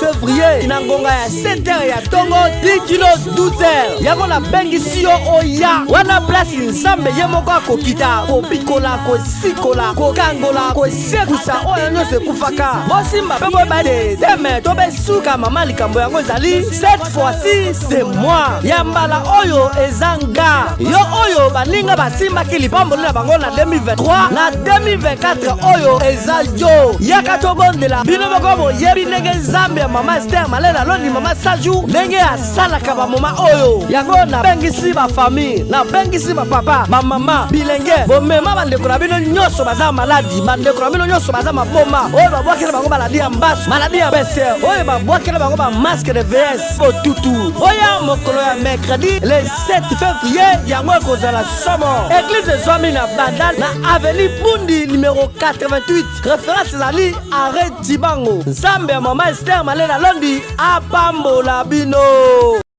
fevrier na ngonga ya 7h ya tongo 10 kilo 12h yango nabengisi yo oya wana place nzambe ye moko akokita kobikola kosikola kokangola kosekusa oyo nyonso ekufaka bosimba mpe boyeba te teme to besuka mama likambo yango ezali 7 cette fois-ci c'est moi ya mbala oyo eza nga yo oyo baninga basimbaki lipamboli na bango na 2023 na 2024 oyo eza yo yaka tobondela bino moko boyebi ndenge nzambe ya mama ester malela loni mama saju ndenge asalaka bamoma oyo yango nabengisi bafamille nabengisi bapapa bamama bilenge bomema bandeko na bino nyonso baza maladi bandeko na bino nyonso baza maboma oyo babwakela bango maladi basu maladi ya bese oyo babwakela bango ba masque de vs botutu oya mokolo ya mercredi le 7 février yango ekozala somo eglize ezwami na bandal na aveni bundi numero 88 reference ezali are dibango nzambe ya mama ester malela londi apambola bino